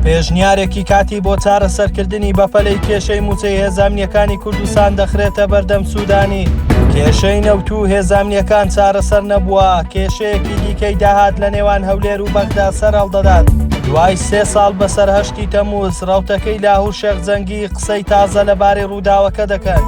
پێشنیارێکی کاتی بۆ چارەسەرکردنی بەپەلەی کێشەی مووچەی هێزانامنیەکانی کوردستان دەخرێتە بەردەم سوودانی کێشەی نەوت و هێزانامنیەکان چارەسەر نەبووە کێشەیەکی دیکەی داهات لە نێوان هەولێر و بەغدا سەر هەڵدەدات دوای سێ ساڵ بەسەر هەشتی تەموز ڕوتەکەی لاهور شێخ جەنگی قسەی تازە لەبارەی ڕووداوەکە دەکەن.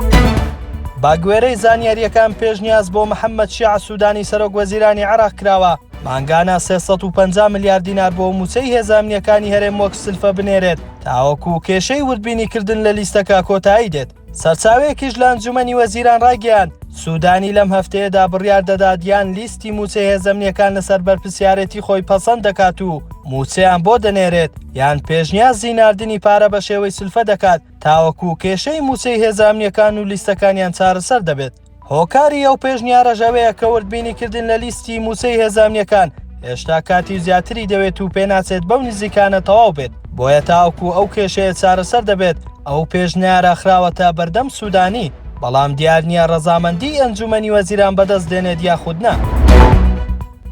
باگوێرەی زانیاریەکان پێشنیاز بۆ محەممەد شیع سوودانی سەرۆک وەزیرانی عێراق کراوە مانگانە سێ سەد و پەنجا ملیار دینار بۆ مووچەی هێزە ئەمنییەکانی هەرێم وەک سلفە بنێرێت، تاوەکو کێشەی وردبینیکردن لە لیستەکە کۆتایی دێت. سەرچاوەیەکیش لە ئەنجوومەنی وەزیران ڕایگەیاند، سوودانی لەم هەفتەیەدا بڕیار دەدات یان لیستی مووچەی هێزە ئەمنییەکان لەسەر بەرپرسیارێتی خۆی پەسەند دەکات و مووچەیان بۆ دەنێرێت، یان پێشنیازی ناردنی پارە بە شێوەی سلفە دەکات، تاوەکو کێشەی مووچەی هێزە ئەمنییەکان و لیستەکانیان چارەسەر دەبێت. هۆکاری ئەو پێشنیارەش ئەوەیە کە وردبینی کردن لە لیستی مووچەی هێزە ئەمنییەکان هێشتا کاتی و زیاتری دەوێت و پێناچێت بەو نزیکانە تەواو بێت، بۆیە تاوەکو ئەو کێشەیە چارەسەر دەبێت، ئەو پێشنیارە خراوەتە بەردەم سوودانی، بەڵام دیار نییە ڕەزامەندیی ئەنجوومەنی وەزیران بەدەست دێنێت یاخود نا.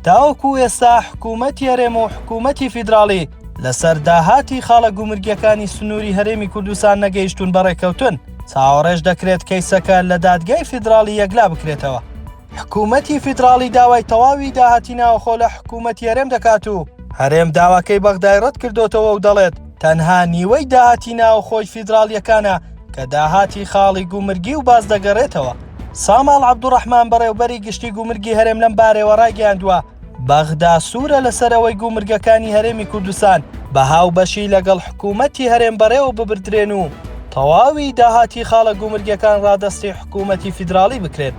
تاوەکو ئێستا حکوومەتی هەرێم و حکوومەتی فیدراڵی لەسەر داهاتی خاڵە گومرگییەکانی سنووری هەرێمی کوردستان نەگەیشتوون بە ڕێککەوتن، چاوەڕێش دەکرێت کەیسەکە لە دادگای فیدراڵی یەکلا بکرێتەوە. حکوومەتی فیدراڵی داوای تەواوی داهاتی ناوخۆ لە حکوومەتی هەرێم دەکات و هەرێم داواکەی بەغدای ڕەت کردۆتەوە و دەڵێت تەنها نیوەی داهاتی ناوخۆی فیدراڵیەکانە کە داهاتی خاڵی گومرگی و باز دەگەڕێتەوە. ساماڵ عەبدوڕەحمان بەڕێوبەری گشتی گومرگی هەرێم لەم بارەیەوە ڕایگەیاندووە، بەغدا سوورە لەسەر ئەوەی گومرگەکانی هەرێمی کوردستان بە هاوبەشی لەگەڵ حکوومەتی هەرێم بەڕێوە ببردرێن و تەواوی داهاتی خاڵە گومرگەکان ڕادەستی حکوومەتی فیدراڵی بکرێن.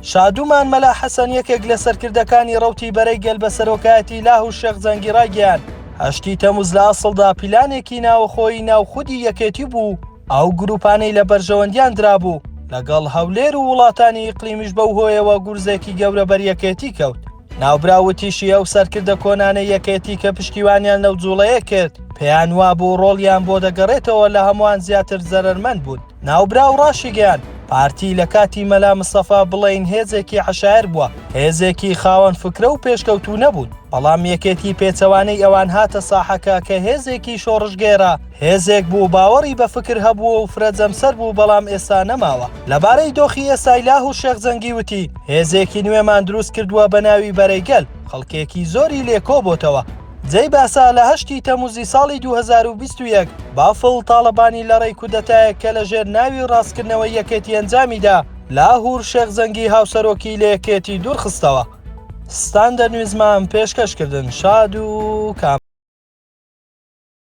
شادومان مەلا حەسەن یەکێک لە سەرکردەکانی ڕەوتی بەرەی گەل بە سەرۆکایەتی لاه و شێخ زەنگی ڕایگەیاند، هەشتی تەموز لە ئەسڵدا پیلانێکی ناوەخۆیی ناو خودی یەکێتی بوو، ئەو گرووپانەی لە بەرژەوەندیان درابوو لەگەڵ هەولێر و وڵاتانی ئیقلیمیش بەو هۆیەوە گورزێکی گەورە بەر یەکێتی کەوت. ناوبراو وتیشی ئەو سەرکردە کۆنانەی یەکێتی کە پشتیوانیان لەو جووڵەیە کرد، پێیان وابوو ڕۆڵیان بۆ دەگەڕێتەوە لە هەمووان زیاتر زەرەرمەند بوون. ناوبراو ڕاشیگەیاند، پارتی لە کاتی مەلا مستەفا بڵێین هێزێکی عەشایەر بووە، هێزێکی خاوەن فکرە و پێشکەوتوو نەبوون، بەڵام یەکێتی پێچەوانەی ئەوان هاتە ساحەکە کە هێزێکی شۆڕشگێڕە، هێزێک بوو باوەڕی بە فکر هەبووە و فرە جەمسەر بوو بەڵام ئێستا نەماوە. لەبارەی دۆخی ئێستای لاهوور شێخ جەنگی وتی، هێزێکی نوێمان دروست کردووە بە ناوی بەرەی گەل، خەڵکێکی زۆری لێ کۆ بۆتەوە. جێی باسە لە هەشتی تەمووزی ساڵی دوو هەزار و بیست و یەک بافڵ تاڵەبانی لە ڕێی کودەتایەک کە لە ژێر ناوی ڕاستکردنەوەی یەکێتی ئەنجامی دا، لاهوور شێخ جەنگی هاوسەرۆکی لە یەکێتی دوور خستەوە. ستاندەر نیوزمام پێشکەش کردن شاد و کام.